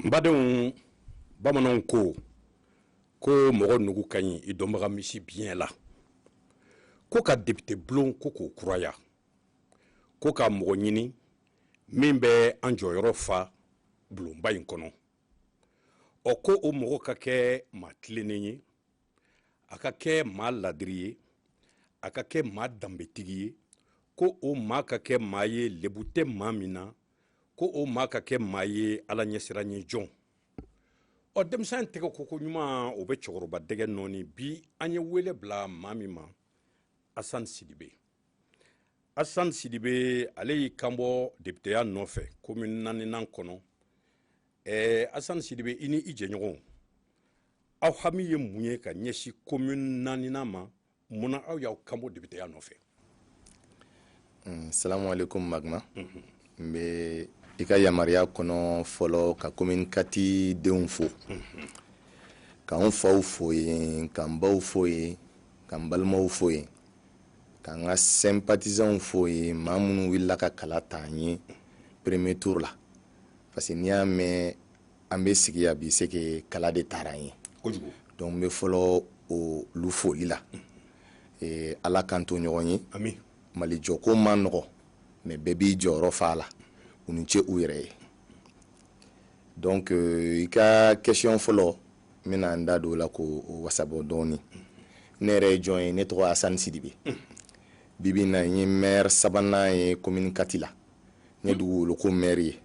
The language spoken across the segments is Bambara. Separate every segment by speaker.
Speaker 1: badenw bamananw ko ko mɔgɔ nugu ka ɲi i dɔnbaga misi biɲɛ la ko ka depite bulon ko k'o kuraya ko ka mɔgɔ ɲini min bɛ an jɔyɔrɔ fa bulonba in kɔnɔ ɔ ko o mɔgɔ ka kɛ maa tilennen ye a ka kɛ maa ladiri ye a ka kɛ maa danbetigi ye ko o maa ka kɛ maa ye lebu tɛ maa min na ko o maa ka kɛ maa ye ala ɲɛsiranɲɛ jɔn ɔ denmisɛn tɛgɛ koko ɲuman o bɛ cɛkɔrɔba dɛgɛ nɔɔni bi an ye wele bila maa min ma asan sidibe asan sidibe ale y'i kanbɔ depiteya nɔfɛ komini naaninan kɔnɔ ɛɛ asan sidibe i ni i jɛɲɔgɔnw aw hami ye mun ye ka ɲɛsin komini naaninan ma mun na aw y'aw kanbɔ depiteya nɔfɛ
Speaker 2: salamu aleykum magma n bɛ i ka yamaruya kɔnɔ fɔlɔ ka komini kati denw fo k'an faw fo yen k'an baw fo yen k'an balimaw fo yen K'an ka sympathisants fo yen maa minnu wulila ka kala ta an ye premier tour la parce que n'i y'a mɛn an bɛ sigi yan bi c'est que kala de tara an ye donc n bɛ fɔlɔ olu foli la ee Ala k'an to ɲɔgɔn ye amin Mali jɔko man nɔgɔ mais bɛɛ b'i jɔyɔrɔ fa a la u ni ce u yɛrɛ ye donc euh, i ka question fɔlɔ n bɛna n da don o la k'o wasabɔ dɔɔni ne yɛrɛ ye jɔn ye ne tɔgɔ asani sidibe bibi na n ye mɛri sabanan ye komini kati la n ye dugukolo ko mɛri ye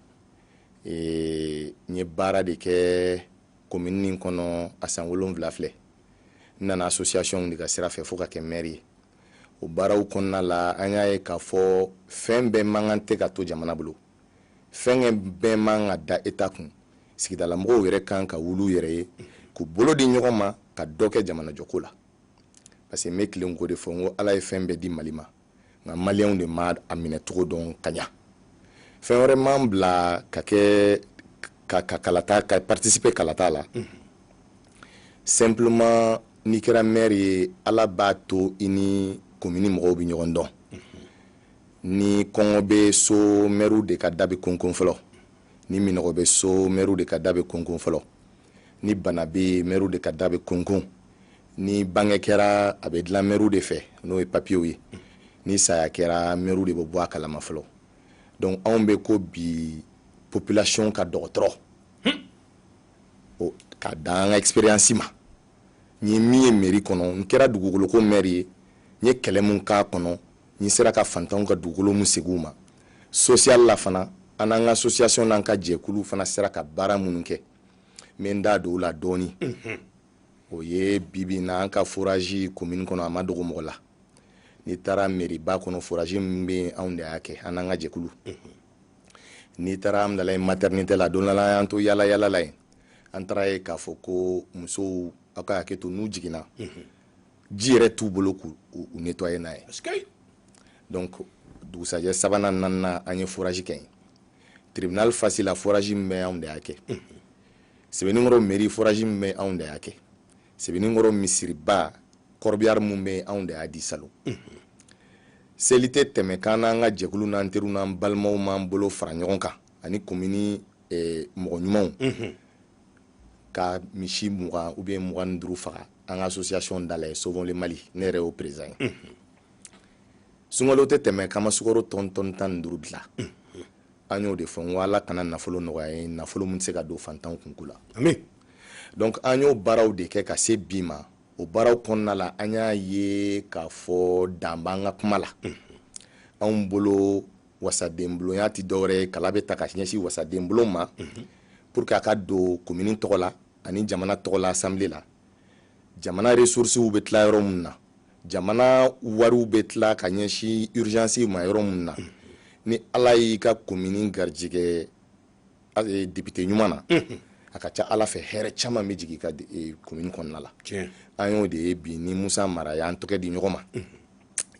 Speaker 2: eh, n ye baara de kɛ komini nin kɔnɔ a san wolonwula filɛ n nana asosiyasiyɔn de ka sira fɛ fo ka kɛ mɛri ye o baaraw kɔnɔna la an y'a ye k'a fɔ fɛn bɛɛ man kan tɛ ka to jamana bolo fɛn bɛɛ man ka da eta kun sigidalamɔgɔw yɛrɛ kan ka wuli u yɛrɛ ye k'u bolo di ɲɔgɔn ma ka dɔ kɛ jamanajɔko la parce que n bɛ tilen k'o de fɔ n ko ala ye fɛn bɛɛ di mali ma nka maliyɛnw de ma a minɛ cogo dɔn ka ɲa fɛn wɛrɛ m'an bila ka kɛ ka ka kalata ka participer kalata la mm -hmm. simplement n'i kɛra maire ye ala b'a to i ni komini mɔgɔw bɛ ɲɔgɔn dɔn ni kɔngɔ bɛ so maire de ka da bɛ konkon fɔlɔ ni minɔgɔ bɛ so maire de ka da bɛ konkon fɔlɔ ni bana bɛ maire de ka da bɛ konkon ni bange kɛra a bɛ dilan maire de fɛ n'o ye papiyew ye ni saya kɛra maire de bɛ bɔ a kalama fɔlɔ donc anw bɛ ko bi population ka dɔgɔtɔrɔ ka da an ka expérience ma n ye min ye mairie kɔnɔ n kɛra dugukoloko maire ye n ye kɛlɛ mun k'a kɔnɔ N sera ka fantanw ka dugukolo mun segin u ma sosiyali la fana, an n'an ka asosiyasɔn n'an ka jɛkulu fana sera ka baara minnu kɛ, n bɛ n da don o la dɔɔni. O ye bi bi in na an ka forazi komini kɔnɔ a ma dogo mɔgɔ la. N'i taara meriba kɔnɔ forazi min bɛ anw de y'a kɛ, an n'an ka jɛkulu. N'i taara Amdalayi matɛrinitɛ la, don dɔ la an y'an to yaala-yaala la yen, an taara ye k'a fɔ ko musow aw ka hakɛ to n'u jiginna, ji yɛrɛ t'u bolo k'u nettoyer n'a ye donc dugusajɛ sabanan naaninan an ye forage kɛ yen tribunal fasi la forage min bɛ anw de y'a kɛ sebeninkɔrɔ mairie forage min bɛ anw de y'a kɛ sebeninkɔrɔ misiriba corbillard min bɛ anw de y'a di salon seli tɛ tɛmɛ k'an n'an ka jɛkulu n'an teriw n'an balimaw m'an bolo fara ɲɔgɔn kan ani komini eh, mɔgɔ ɲumanw ka misi mugan ou bien mugan ni duuru faga an ka association da la sauvons le mali ne yɛrɛ y'o président ye sunkalo tɛ tɛmɛ k'an ma sukaro tɔni tan ni duuru tila an y'o de fɔ n ko ala kana nafolo nɔgɔya n ye nafolo min tɛ se ka don fantanw kunko la donc an y'o baaraw de kɛ ka se bi ma o baaraw kɔnɔna la an y'a ye k'a fɔ dan b'an ka kuma la anw bolo wasadenbulonya tɛ dɔwɛrɛ ye kala bɛ ta ka ɲɛsin wasadenbulon ma mhm. pour que a ka don komini tɔgɔ la ani jamana tɔgɔ la asanbile la jamana ressources bɛ tila yɔrɔ min na jamana wariw bɛ tila ka ɲɛsin urgence ma yɔrɔ min na mhm. ni ala y'i ka komini garijɛgɛ eh, député ɲuman na mhm. a ka ca ala fɛ hɛrɛ caman bɛ jigin i ka eh, komini kɔnɔna la an y'o de ye bi ni musa mara y'an tɛgɛ di ɲɔgɔn ma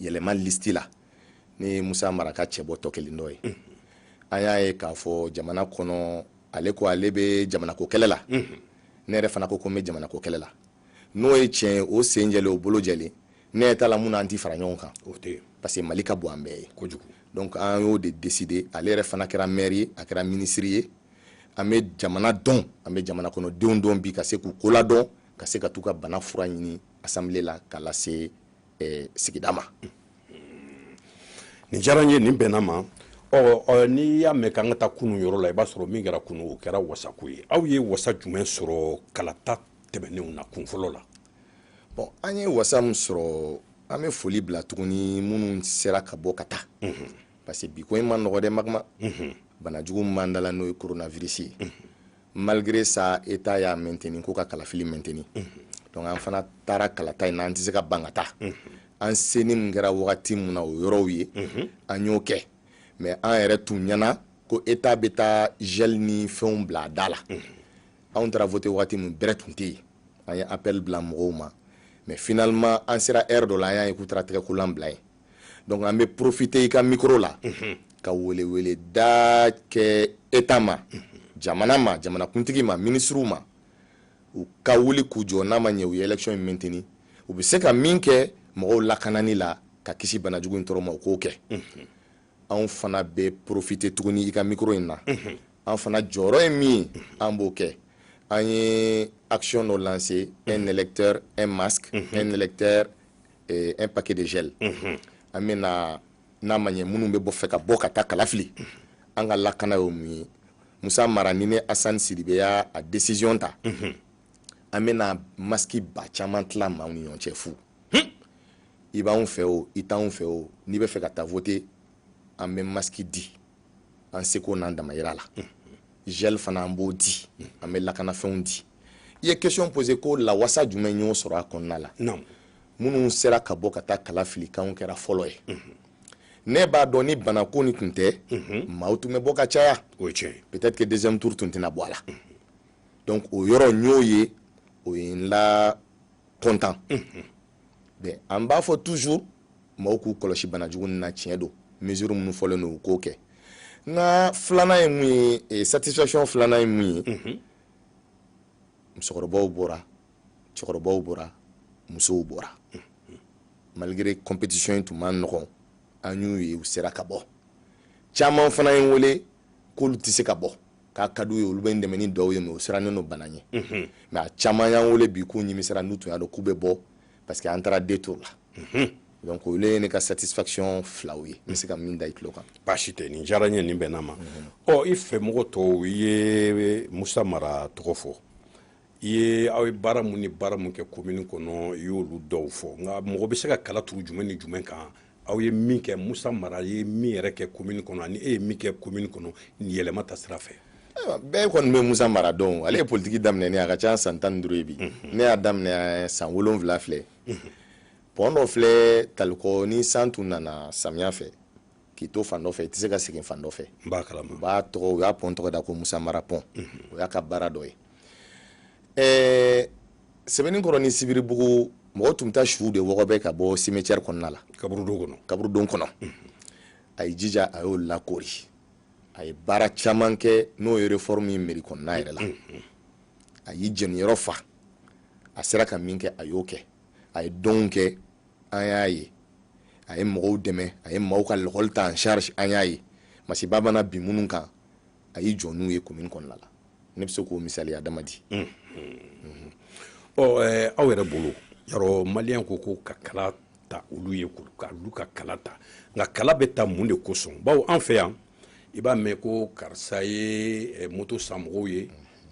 Speaker 2: yɛlɛma listi la ni musa mara ka cɛbɔ tɔ kelen dɔ ye an y'a ye k'a fɔ jamana kɔnɔ ale ko ale bɛ jamanako kɛlɛ la ne yɛrɛ fana ko ko n bɛ jamanako kɛlɛ la n'o ye tiɲɛ ye o sen jɛlen o bolo jɛlen ne yɛrɛ t'a la mun na an tɛ fara ɲɔgɔn kan parce que mali ka bon an bɛɛ ye donc an y'o de décider ale yɛrɛ fana kɛra maire ye a kɛra minisiri ye an bɛ jamana dɔn an bɛ jamana kɔnɔdenw dɔn bi ka se k'u ko ladon ka se ka t'u ka bana fura ɲini assemblée la ka lase sigida
Speaker 1: ma nin diyara n ye nin bɛnna ma n'i y'a mɛn k'an ka taa kunun yɔrɔ la i b'a sɔrɔ min kɛra kunun o kɛra wasako ye aw ye wasa jumɛn sɔrɔ kalata tɛmɛnenw na kun fɔlɔ la bon
Speaker 2: an ye wasa min sɔrɔ an bɛ foli bila tuguni minnu sera ka bɔ ka taa parce que bi ko in ma nɔgɔ dɛ magama banajugu min b'an da la n'o ye koronavirisi ye malgré ça état y'a maintenir ko ka kalafili maintenir donc an fana taara kalata in na an tɛ se ka ban ka taa an seni min kɛra wagati min na o yɔrɔw ye an y'o kɛ mais an yɛrɛ tun ɲɛ na ko état bɛ taa gel ni fɛnw bila a da la anw taara voter wagati min bɛrɛ tun tɛ yen an ye appel bila mɔgɔw ma mais finalement an sera heure dɔ la an y'a ye k'u taara tɛgɛkolan bila yen donc an bɛ profite i ka mikoro la ka welewele da kɛ état ma jamana ma jamanakuntigi ma minisiriw ma u ka wuli k'u jɔ n'a ma ɲɛ u ye élection in maintenir u bɛ se ka min kɛ mɔgɔw lakanani la ka kisi banajugu in tɔɔrɔ ma u k'o kɛ anw fana bɛ profite tuguni i ka mikoro in na an fana jɔyɔrɔ ye min ye an b'o kɛ an ye action dɔ lancer un électeur un masque un électeur eh, un paquet de gel an bɛna n'a ma ɲɛ minnu bɛ bɔ fɛ ka bɔ ka taa kala fili an ka lakana ye mun ye musa mara ni ne asan sidibe y'a décision ta an bɛna maski ba caman tila maaw ni ɲɔgɔn cɛ fu i b'anw fɛ o i t'anw fɛ o n'i bɛ fɛ ka taa voter an bɛ maski di an seko n'an damayira la gel fana an b'o di an bɛ lakanafɛnw di i ye question posé ko lawasa jumɛn y'o sɔrɔ a kɔnɔna la minnu sera ka bɔ ka taa kala fili k'anw kɛra fɔlɔ ye mhm. ne b'a dɔn ni bana ko ni tun tɛ mhm. maaw tun bɛ bɔ ka caya o ye tiɲɛ ye peut-être que deuxième tour tun tɛna bɔ a la mhm. donc o yɔrɔ n y'o ye o ye n la kɔntan mais an b'a fɔ toujours maaw k'u kɔlɔsi banajugu nin na tiɲɛ don mesure minnu fɔlen don u k'o kɛ n ka filanan ye mun ye eh, satisfaction filanan ye mun ye musokɔrɔbaw bɔra cɛkɔrɔbaw bɔra musow bɔra malgré compétition in tun man nɔgɔn an y'u ye u sera ka bɔ caman fana ye n wele k'olu tɛ se ka bɔ k'a ka d'u ye olu bɛ n dɛmɛ ni dɔw ye mais u sirannen don bana ɲɛ mais a caman y'an wele bi k'u nimisara n'u tun y'a dɔn k'u bɛ bɔ parce que an taara deux tours la mhm. donc olu ye ne ka satisfaction filaw ye n bɛ se ka min da i tulo kan baasi tɛ nin diyara n ye
Speaker 1: nin bɛnna ma ɔ i fɛmɔgɔ tɔw i ye musa mara tɔgɔ fɔ i ye aw ye baara mun ni baara mun kɛ komini kɔnɔ i y'olu dɔw fɔ nka mɔgɔ bɛ se ka kala turu jumɛn ni jumɛn kan aw ye min kɛ musa mara ye min yɛrɛ kɛ komini kɔnɔ ani e ye min kɛ komini kɔnɔ nin yɛlɛma ta sira fɛ bɛɛ kɔni bɛ
Speaker 2: musa mara dɔn ale ye politiki daminɛ ne a ka ca san tan ni duuru ye bi mhm. ne y'a daminɛ san wolonwula filɛ mhm. pɔn dɔ filɛ talikɔ ni san tun nana samiya fɛ k'i to fan dɔ fɛ i tɛ se ka segin fan dɔ fɛ u b'a
Speaker 1: tɔgɔ u y'a pɔn
Speaker 2: tɔgɔ da ko musa mara pɔn mhm. o y'a ka baara dɔ ye ɛɛ sebeninkɔrɔ ni sibiribugu mɔgɔ tun bɛ taa suw de wɔgɔbɛ ka bɔ cimetière kɔnɔna la kaburudo kɔnɔ kaburudo kɔnɔ a ye jija a y'o lakoori a ye baara caman kɛ n'o ye réforme ye mairie kɔnɔna yɛrɛ la a y'i jeniyɔrɔ fa a sera ka min kɛ a y'o kɛ a ye donw kɛ an y'a ye a ye mɔgɔw dɛmɛ a ye maaw ka lakɔli ta en charge an y'a ye masiba mana bin minnu kan a y'i jɔ n'u ye komin kɔnɔna la ne bɛ se k'o misaliya dama di ɔ
Speaker 1: aw yɛrɛ bolo yarɔ maliyɛn ko ko ka kala ta olu ye k'olu ka kala ta nka kala bɛ ta mun de kosɔn bawo an fɛ yan i b'a mɛn ko karisa ye moto san mɔgɔw ye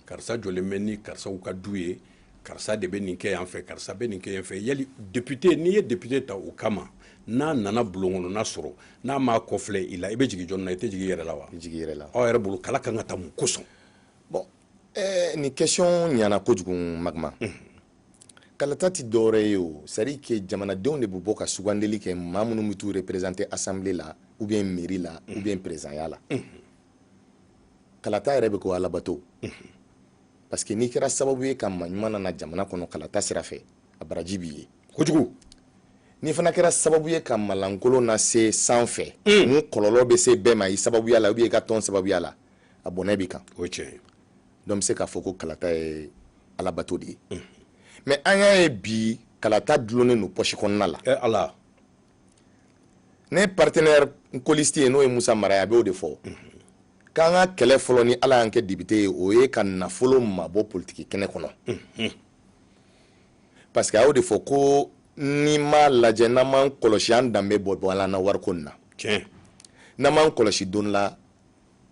Speaker 1: karisa jɔlen bɛ ni karisaw ka du ye karisa de bɛ nin kɛ yan fɛ karisa bɛ nin kɛ yan fɛ yali député n'i ye député ta o kama n'a nana bulon kɔnɔna sɔrɔ n'a m'a kɔfilɛ i la i bɛ jigin jɔn na i tɛ jigin i yɛrɛ la wa i jigin i yɛrɛ la aw yɛrɛ bolo
Speaker 2: kala kan ka ta
Speaker 1: mun kosɔn bon
Speaker 2: eh, nin question ɲana kojugu magma mm. kalata tɛ dɔwɛrɛ ye o c'est à dire que jamanadenw de bɛ bɔ ka sugandeli kɛ maa minnu bɛ t'u représenter assemblée la ou bien mairie la mm. ou bien présidentya la mm. kalata yɛrɛ bɛ ko alabato mm. parce que n'i kɛra sababu ye ka maa ɲuman nana jamana kɔnɔ kalata sira fɛ a baraji b'i ye
Speaker 1: kojugu n'i fana
Speaker 2: kɛra sababu ye ka maa lankolon nase san fɛ mm. mun kɔlɔlɔ bɛ se bɛɛ ma i sababuya la ou bien i ka tɔn sababuya la a bɔnɛ b'i kan o ye tiɲɛ
Speaker 1: ye donc bɛ se k'a
Speaker 2: fɔ ko kalata ye alabato de ye mais mm. an y'a ye bi kalata dulonnen don pɔsi kɔnɔna la eh, ala ne partenaire colistier n'o ye musa mara ye a b'o de fɔ k'an ka kɛlɛ fɔlɔ ni ala y'an kɛ député ye o ye ka nafolo mabɔ politiki kɛnɛ kɔnɔ parce que a y'o de fɔ ko n'i m'a lajɛ n'an m'an kɔlɔsi an danbe bɔ bɔ ala na wariko nin na n'an m'an kɔlɔsi don la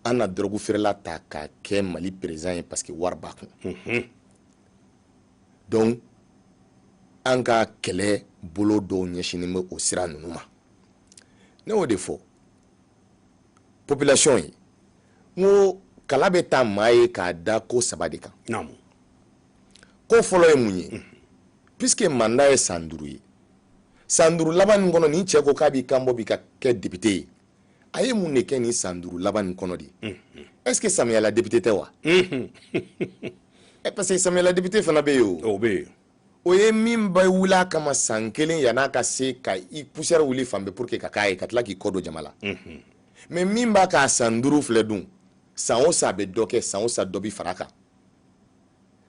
Speaker 2: an na dɔrɔgu feerela ta k'a kɛ mali président ye parce que wari b'a kun donc an ka kɛlɛ bolo dɔw ɲɛsinnen bɛ o sira ninnu ma ne y'o de fɔ population ye n ko kala bɛ ta maa ye k'a da ko saba de kan ko fɔlɔ ye mun ye mhm. puisque mandat ye san duuru ye san duuru laban nin kɔnɔ nin cɛ ko k'a b'i kan bɔ bi ka kɛ député ye a ye mun de kɛ nin san duuru laban nin kɔnɔ de est ce que samiyala depite tɛ wa parce que samiyala depite fana bɛ yen o bɛ yen o ye min bɛ wuli a kama san kelen yan'a ka se ka i poussière wuli fan bɛɛ pour que ka k'a ye ka tila k'i kɔ don jama la mais min b'a k'a san duuru filɛ dun san o san a bɛ dɔ kɛ san o san dɔ bi fara kan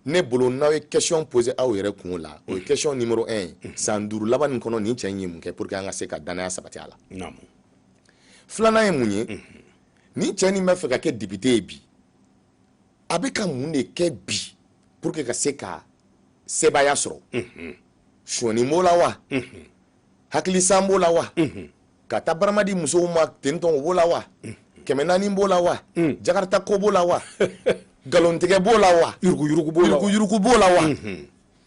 Speaker 2: ne bolo n'aw ye question pose aw yɛrɛ kun o la o ye mm. question numéro 1 san duuru laban nin kɔnɔ nin cɛ in ye mun kɛ pour que an ka se ka danaya sabati a la filanan ye mun ye mm-hmm. nin cɛ nin b'a fɛ ka kɛ député ye bi a bɛ ka mun de kɛ bi pour que ka se ka sebaaya sɔrɔ mm-hmm. sɔnni b'o la wa mm-hmm. hakilisan b'o la wa ka taa barama di musow ma tentɔn o b'o la wa kɛmɛ naani b'o la wa jakarta ko b'o la wa nkalontigɛ b'o la wa yuruguyurugu b'o la wa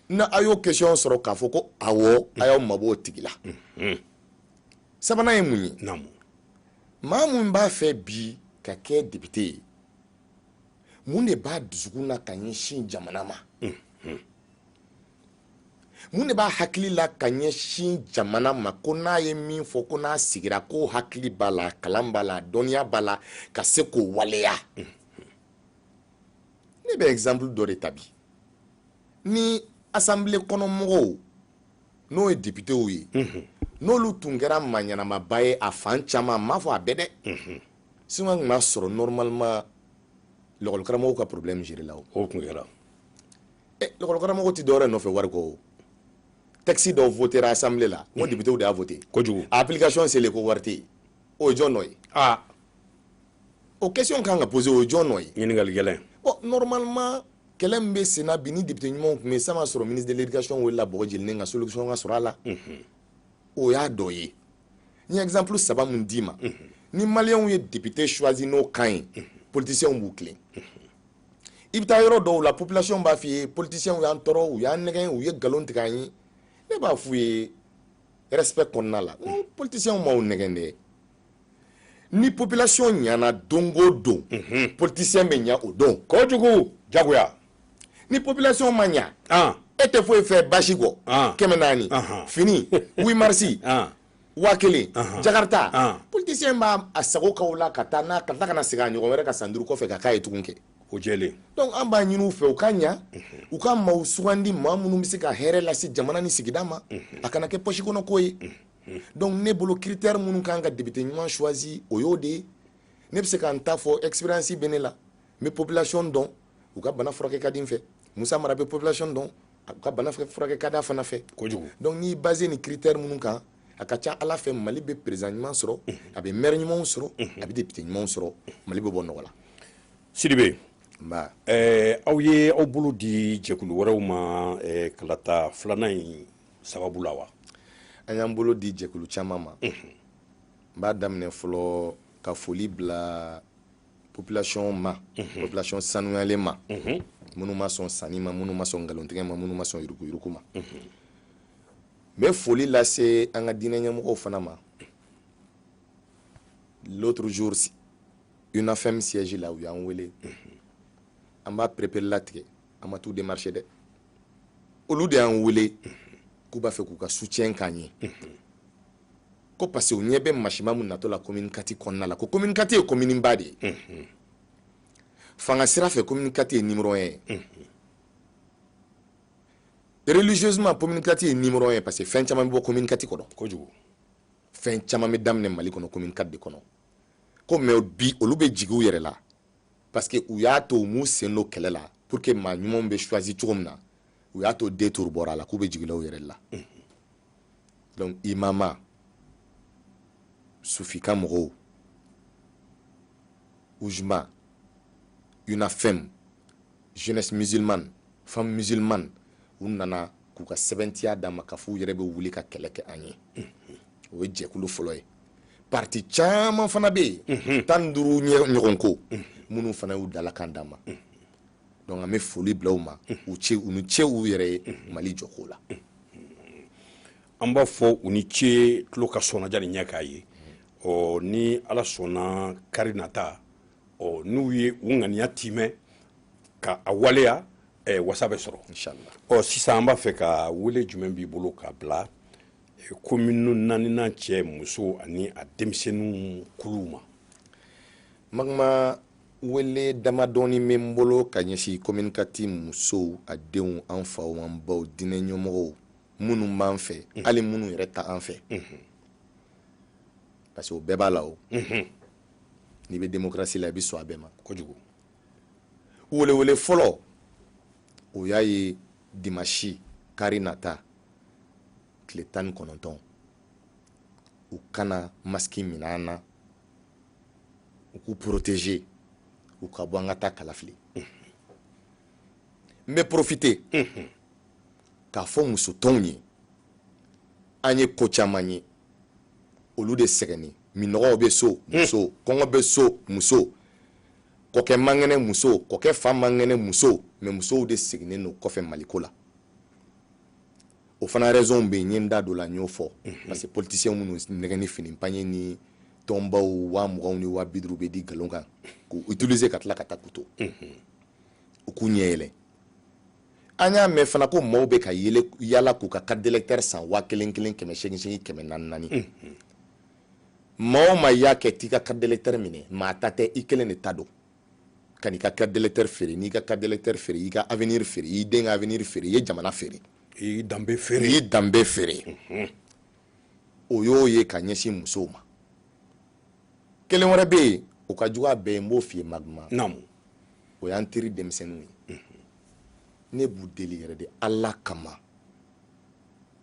Speaker 2: na a y'o question sɔrɔ k'a fɔ ko awɔ a y'aw mabɔ o tigi la sabanan ye mun ye maa min b'a fɛ bi ka kɛ depite ye mun de b'a dusukun na ka ɲɛsin jamana ma mun de b'a hakili la ka ɲɛsin jamana ma ko n'a ye min fɔ ko n'a sigira ko hakili b'a la kalan b'a la dɔnniya b'a la ka se k'o waleya ne bɛ exemple dɔ de ta bi ni asanbile kɔnɔmɔgɔw n'o ye depitew ye n'olu tun kɛra maa ɲɛnamaba ye a fan caman m'a fɔ a bɛɛ dɛ sinon an tun b'a sɔrɔ normalement lakɔlikaramɔgɔw ka problème géré la o tun kɛra eh, lakɔlikaramɔgɔw tɛ dɔwɛrɛ nɔfɛ wari kɔ o tɛkisi dɔw votera asanbile la ko depitew de y'a vote kojugu a application selen ko wari tɛ yen o ye jɔn nɔ ye aa o question kan ka pose o ye jɔn nɔ ye ɲininkali gɛlɛn bon normalement kɛlɛ min bɛ senna bi ni depite ɲumanw tun bɛ yen san b'a sɔrɔ ministre de l'éducation welela Bagadaji la ka solution ka sɔrɔ a la o y'a dɔ ye n ye exemple saba min d'i ma ni maliyɛnw ye depite choisi n'o kan ye politiciens b'u tilen i bɛ taa yɔrɔ dɔw la population b'a f'i ye politiciens y'an tɔɔrɔ u y'an nɛgɛn u ye nkalon tigɛ an ye ne b'a f'u ye respect kɔnɔna la n politiciens m'aw nɛgɛn dɛ ni population ɲana don o don mhm. politicien bɛ ɲa o don kojugu jagoya ni population ma ɲa e tɛ foyi fɛ bazin kɔ kɛmɛ naani fini 8 marisi waa kelen jakarta politisiyɛn b'a sago k'aw la ka taa n'a ka tila ka na segin a ɲɔgɔn wɛrɛ ka san duuru kɔfɛ ka k'a ye tugun kɛ o jɛlen donc an b'a ɲini u fɛ u ka ɲa u ka maaw sugandi maa minnu bɛ se ka hɛrɛ lase jamana ni sigida ma a kana kɛ pɔsi kɔnɔ ko ye donc ne bolo critère minnu kan ka depite ɲuman choisi o y'o de ye ne bɛ se ka n ta fɔ expérience bɛ ne la n bɛ population dɔn u ka bana furakɛ ka di n fɛ musa mara bɛ population dɔn u ka bana furakɛ ka d'a fana fɛ kojugu donc n'i basé ni critère minnu kan a ka ca ala fɛ mali bɛ président ɲuman sɔrɔ a bɛ maire ɲumanw sɔrɔ a bɛ député ɲumanw sɔrɔ mali bɛ bɔ nɔgɔ la sidibe nba eh, aw ye aw bolo di jɛkulu wɛrɛw ma eh, kalata filanan in sababu la wa an y'an bolo di jɛkulu caman ma n b'a daminɛ fɔlɔ ka foli bila population ma mhm. population sanuyalen ma mhm. minnu ma sɔn sanni ma minnu ma sɔn nkalontigɛ ma minnu ma sɔn yurukuyuruku ma n mhm. bɛ foli lase an ka diinɛ ɲɛmɔgɔw fana ma l'autre jour unafem siège la u y'an wele an b'a pereperelatigɛ an ma t'u démarcher dɛ olu de y'an wele k'u b'a fɛ k'u ka soutien k'an ye ko parce que u ɲɛ bɛ masiba min natɔ la commune quatre kɔnɔna la ko commune quatre ye commune ba de ye fanga sira fɛ commune quatre ye numéro un ye religieusement commune quatre ye numéro un ye parce que fɛn caman bɛ bɔ commune quatre kɔnɔ kojugu fɛn caman bɛ daminɛ mali kɔnɔ commune quatre de kɔnɔ ko mais bi olu bɛ jigi u yɛrɛ la parce que u y'a to u m'u sen don kɛlɛ la pour que maa ɲumanw bɛ choisi cogo min na u y'a to deux tours bɔra a la k'u bɛ jigila u yɛrɛ la donc imama sufi ka mɔgɔw ujma unafem jeunesse musulmane femme musulmane u nana k'u ka sɛbɛntiya d'an ma k'a fɔ u yɛrɛ bɛ wuli ka kɛlɛ kɛ an ye o ye jɛkulu fɔlɔ ye parti caman fana bɛ yen tan ni duuru ɲɔgɔn ko minnu fana y'u dalakan d'an ma donc an bɛ foli bila u ma u ce u ni ce u yɛrɛ ye mali jɔko
Speaker 1: la an b'a fɔ u ni ce tulo ka sɔnna jani ɲɛ k'a ye ɔ ni ala sɔnna kari nata ɔ n'u ye u ŋaniya timɛ ka a waleya eh, wasa bɛ sɔrɔ ɔ sisan
Speaker 2: an b'a fɛ
Speaker 1: ka wele jumɛn b'i bolo ka bila eh, commune naaninan cɛ muso ani a denmisɛnninw kuluw ma magma
Speaker 2: wele damadɔɔni bɛ n bolo ka ɲɛsin commune quatre musow a denw an faw an baw diinɛ ɲɛmɔgɔw minnu b'an fɛ mhm. hali minnu yɛrɛ t'an fɛ mhm. parce que o bɛɛ b'a la o mhm. n'i bɛ démocratie la i bɛ sɔn a bɛɛ ma kojugu welewele fɔlɔ o y'a ye dimasi kari nata tile tan ni kɔnɔntɔn u kana masque minɛ an na u k'u protéger u ka bɔ an ka taa kalafili n bɛ profiter k'a fɔ muso tɔnw ye an ye ko caman ye olu de sɛgɛnnen minnɔgɔ bɛ so muso kɔngɔ bɛ so muso kɔkɛ man kɛnɛ muso kɔkɛ fa man kɛnɛ muso mais musow de seginnen don kɔfɛ maliko la o fana raison bɛ yen n ye n da don la n y'o fɔ mhm. parce que politiciens minnu nɛgɛn ni fini pagne ni tɔnbaw waa muganw ni waa bi duuru bɛ di nkalon kan k'u utiliser ka tila ka taa k'u to mhm. u k'u ɲɛ yɛlɛ an y'a mɛn fana ko maaw bɛ ka yaala yaala k'u ka carte d'électeur san waa kelen kelen kɛmɛ seegin seegin kɛmɛ naani naani mhm. maa o maa y'a kɛ t'i ka carte d'électeur minɛ maa ta tɛ i kelen de ta don kan'i ka carte d'électeur feere n'i ka carte d'électeur feere i ka avenir feere i den ka avenir feere i ye jamana feere i y'i
Speaker 1: danbe feere i y'i danbe feere
Speaker 2: mhm. o y'o ye ka ɲɛsin musow ma kelen wɛrɛ bɛ yen o ka jugu a bɛɛ ye n b'o f'i ye maguma naamu o y'an teri denmisɛnninw ye mhm. ne b'u deli yɛrɛ de ala kama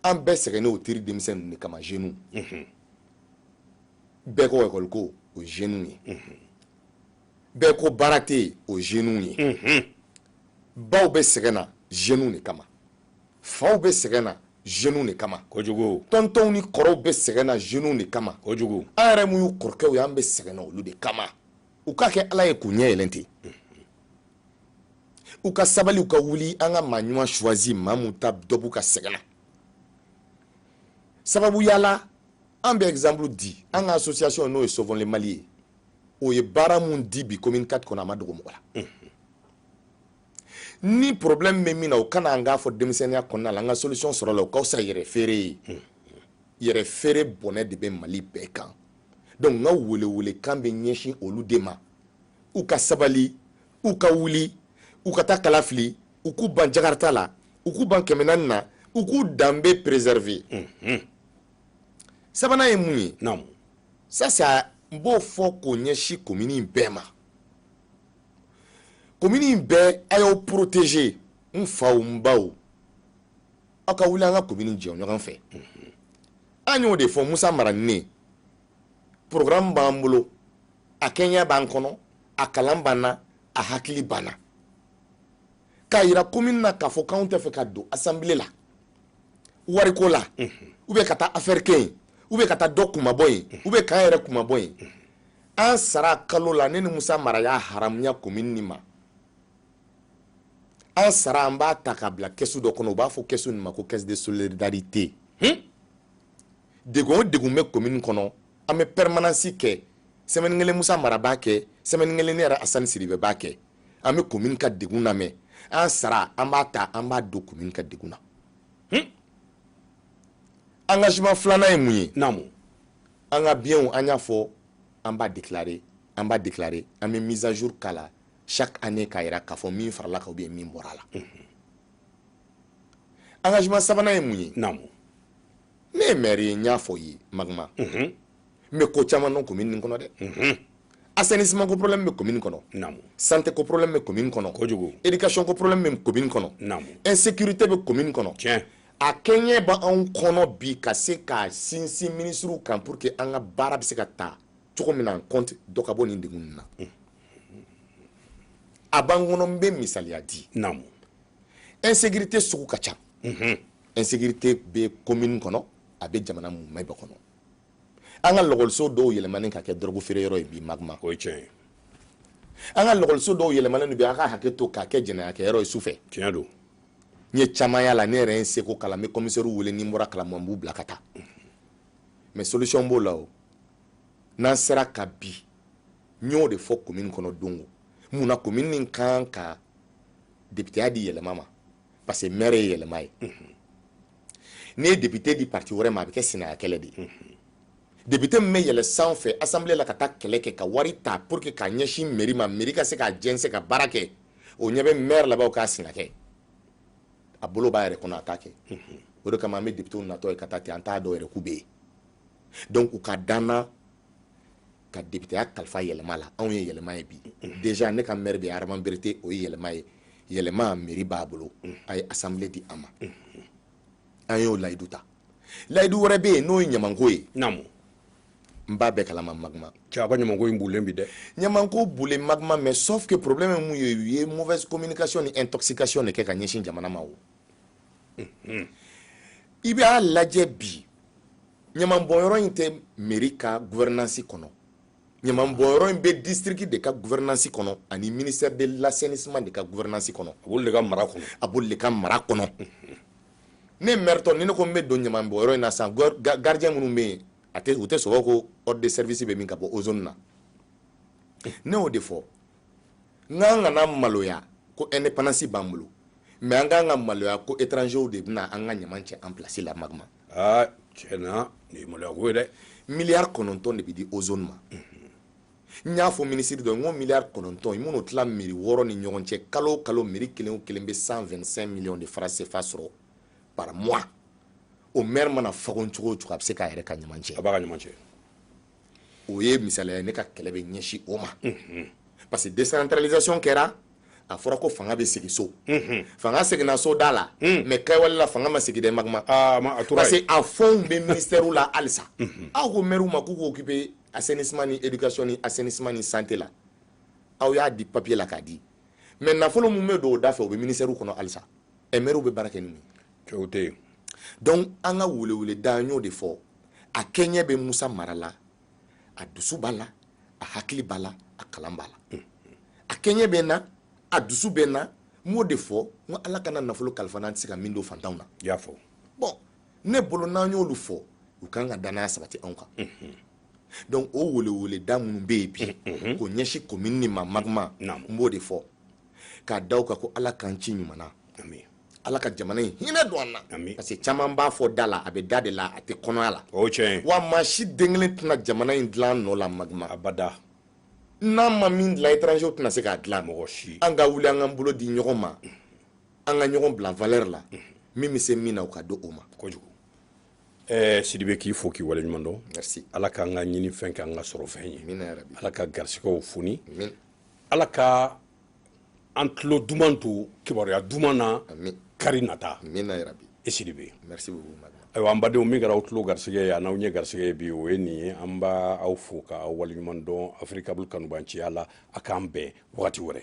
Speaker 2: an bɛɛ sɛgɛnnen o teri denmisɛn ninnu de kama jeunes mhm. bɛɛ ko ekɔli ko o ye jeunes ye bɛɛ ko baara tɛ yen o jeunes ye mhm. baw bɛ sɛgɛn na jeunes de kama faw bɛ sɛgɛn na jeunes de kama kojugu tɔntɔnw ni
Speaker 1: kɔrɔw
Speaker 2: bɛ sɛgɛn na jeunes de kama kojugu an yɛrɛ mun y'u
Speaker 1: kɔrɔkɛw
Speaker 2: ye an bɛ sɛgɛn na olu de kama u k'a kɛ ala ye k'u ɲɛ yɛlɛ ten mhm. u ka sabali u ka wuli an ka maa ɲuman choisir maa mun ta dɔ b'u ka sɛgɛn na sababuya la an bɛ exemple di an ka association n'o ye sauvons le mali ye o ye baara mun di bi commune 4 kɔnɔ a ma dogo mɔgɔ la ni problème bɛ min na o ka na an k'a fɔ denmisɛnninya kɔnɔna la an ka solution sɔrɔ a la o ka fisa yɛrɛ feere ye yɛrɛ feere bɔnɛ de bɛ mali bɛɛ kan donc n ka welewele kan bɛ ɲɛsin olu de ma u ka sabali u ka wuli u ka taa kala fili u k'u ban jakarta la u k'u ban kɛmɛ naani na u k'u danbe préserver sabanan ye mun ye naamu ça c'est n b'o fɔ k'o ɲɛsin komini in bɛɛ ma komini in bɛɛ a y'aw protéger n faw n baw aw ka wuli an ka komini jɔ ɲɔgɔn fɛ an y'o de fɔ musa mara ni ne programme b'an bolo a kɛɲɛ b'an kɔnɔ a kalan b'an na a hakili b'an na k'a yira komini na k'a fɔ k'anw t'a fɛ ka don assemblée la wariko la ou bien ka taa affaire kɛ yen ou bien ka taa dɔ kunmabɔ yen ou bien k'an yɛrɛ kunmabɔ yen an sara kalo la ne ni musa mara y'a haramuya komini nin ma an sara an b'a ta k'a bila kɛsu dɔ kɔnɔ u b'a fɔ kɛsu nin ma ko caisse de solidarité hmm? degun o degun bɛ commune kɔnɔ an bɛ permanence kɛ semaine kelen musa mara b'a kɛ semaine kelen ne yɛrɛ asani sidibe b'a kɛ an bɛ commune ka degun lamɛn an sara an b'a ta an b'a don commune ka degun na hmm? engagement filanan ye mun ye naamu an ka biens an y'a fɔ an b'a déclarer an b'a déclarer an bɛ mise à jour k'a la chaque année k'a yira k'a fɔ min farala kan ou bien min bɔra a la engagement sabanan ye mun ye naamu ne ye maire ye n y'a fɔ ye magma n mhm. bɛ ko caman dɔn commune nin kɔnɔ dɛ mhm. assainissement ko problème bɛ commune kɔnɔ santé ko problème bɛ commune kɔnɔ kojugu éducation ko problème bɛ commune kɔnɔ insécurité bɛ commune kɔnɔ tiɲɛ a kɛɲɛ b'anw kɔnɔ bi ka se ka sinsin minisiriw kan pour que an ka baara bɛ se ka taa cogo min na an compte dɔ ka bɔ nin degun ninnu na mhm. a b'an kɔnɔ n bɛ misaliya di
Speaker 1: insécurité
Speaker 2: sugu ka ca insécurité bɛ commune kɔnɔ a bɛ jamana mumɛ bɛɛ kɔnɔ an ka lɔgɔliso dɔw yɛlɛmani ka kɛ dɔrɔgu feere yɔrɔ ye bi magma o ye tiɲɛ ye
Speaker 1: an
Speaker 2: ka lɔgɔliso dɔw yɛlɛmani bi a ka hakɛ to k'a kɛ jɛnɛyakɛyɔrɔ ye su fɛ tiɲɛ don
Speaker 1: n ye caman
Speaker 2: yaala ne yɛrɛ ye n seko k'a la n bɛ kɔmisɛriw wele ni n bɔra kalama n b'u bila ka taa mais solution b'o la o n'an sera ka bi n y'o de fɔ commune kɔnɔ don o mun na commune nin kan ka députéya di yɛlɛma ma parce que maire ye yɛlɛma ye n'i ye député di parti wɛrɛ ma a bɛ kɛ sinaya kɛlɛ de ye député min bɛ yɛlɛ san fɛ assemblée la ka taa kɛlɛ kɛ ka wari ta pour que k'a ɲɛsin mairie ma mairie ka se k'a jɛnsɛn ka baara kɛ o ɲɛ bɛ maire la bawo k'a sina kɛ a bolo b'a yɛrɛ kɔnɔ a t'a kɛ o de kama an bɛ députéw natɔ ye ka taa ten an t'a dɔn yɛrɛ k'u bɛ yen donc u ka da an na ka députéya kalifa yɛlɛma la anw ye yɛlɛma ye bi déjà ne ka maire de ye adama berete o ye yɛlɛma ye yɛlɛma mairie b'a bolo a ye assemblée di an ma an y'o layidu ta layidu wɛrɛ bɛ yen n'o ye ɲamanko ye
Speaker 1: naamu n
Speaker 2: b'a bɛɛ kalama magma cɛ a ka ɲamanko in
Speaker 1: bulen bi dɛ ɲamanko bulen
Speaker 2: magma mais sauf que problème ye mun ye u ye mauvaise communication ni intoxication de kɛ ka ɲɛsin jamana ma o i b'a lajɛ bi ɲamanbɔnyɔrɔ in tɛ mairie ka gouvernance kɔnɔ ɲamanbɔnyɔrɔ in bɛ district de ka gouvernance kɔnɔ ani ministère de l'assainissement de ka gouvernance kɔnɔ a b'olu de ka mara
Speaker 1: kɔnɔ a b'olu de ka
Speaker 2: mara kɔnɔ ne mairetɔ ni ne ko n bɛ don ɲamanbɔnyɔrɔ in na sisan gardien minnu bɛ yen a tɛ u tɛ sɔn ko ordre de service bɛ min ka bɔ ozone na ne y'o de fɔ n k'an kana maloya ko indépendance b'an bolo mais an k'an ka maloya ko étrangers de bɛna an ka ɲaman cɛ an place la magma aa tiɲɛ na
Speaker 1: nin ye maloya ko ye dɛ miliyari kɔnɔntɔn
Speaker 2: de bɛ di ozone ma n y'a fɔ minisiri dɔ n ko miliyari kɔnɔntɔn i man'o tila mairie wɔɔrɔ ni ɲɔgɔn cɛ kalo o kalo mairie kelen o kelen bɛ 125 miliyɔn de francs CFA sɔrɔ par mois o maire mana fagon cogo o cogo a bɛ se k'a yɛrɛ ka ɲaman cɛ a b'a ka ɲaman cɛ o ye misala ye ne ka kɛlɛ bɛ ɲɛsin o ma parce que décentralisation kɛra a fɔra ko fanga bɛ segin so fanga seginna so da la mais kɛwale la fanga ma segin dɛ magma ah, parce que a fɛnw bɛ ministère la halisa aw ko maire ma k'u k'u occuper assainissement ni éducation ni assainissement ni santé la aw y'a di papier la k'a di mais nafolo mun bɛ don o dafɛ o bɛ ministère kɔnɔ halisa ɛ maire bɛ baara kɛ ni mun ye
Speaker 1: donc an ka
Speaker 2: weleweleda n y'o de fɔ a kɛɲɛ bɛ musa mara la a dusu b'a la a hakili b'a la a kalan b'a la a kɛɲɛ bɛ n na a dusu bɛ n na n b'o de fɔ n ko ala kana nafolo kalifa n na n tɛ se ka min don fantanw na i y'a fɔ bon ne bolo n'an y'olu fɔ u kan ka danaya sabati anw kan donc o weleweleda minnu bɛ yen bi k'o ɲɛsin komini nin ma magma n b'o de fɔ k'a da u kan ko ala k'an ci ɲuman na ala ka jamana in hinɛ don an na parce que caman b'a fɔ da la a bɛ da de la a tɛ kɔnɔya la o tiɲɛ wa
Speaker 1: maa si den
Speaker 2: kelen tɛna jamana in dilan an nɔ la magma abada n'an ma min dilan étranger tɛna se k'a dilan mɔgɔ si an ka wuli
Speaker 1: an k'an bolo
Speaker 2: di ɲɔgɔn ma an ka ɲɔgɔn bila valeur la min bɛ se min na o ka di o ma
Speaker 1: kojugu ɛɛ eh, sidibe k'i fo k'i waleɲuman dɔn merci ala k'an ka
Speaker 2: ɲinifɛn
Speaker 1: k'an ka sɔrɔfɛn ye ala ka
Speaker 2: garisigɛw
Speaker 1: foni
Speaker 2: ala ka
Speaker 1: an tulo duman to kibaruya duman na kari nata i
Speaker 2: sidibe ayiwa an badenw min kɛra aw
Speaker 1: tulo garisɛgɛ ye an'aw ɲɛ garisɛgɛ ye bi o ye nin ye an b'aw fo ka aw waleɲuman dɔn africable kanubanciya la a k'an bɛn wagati wɛrɛ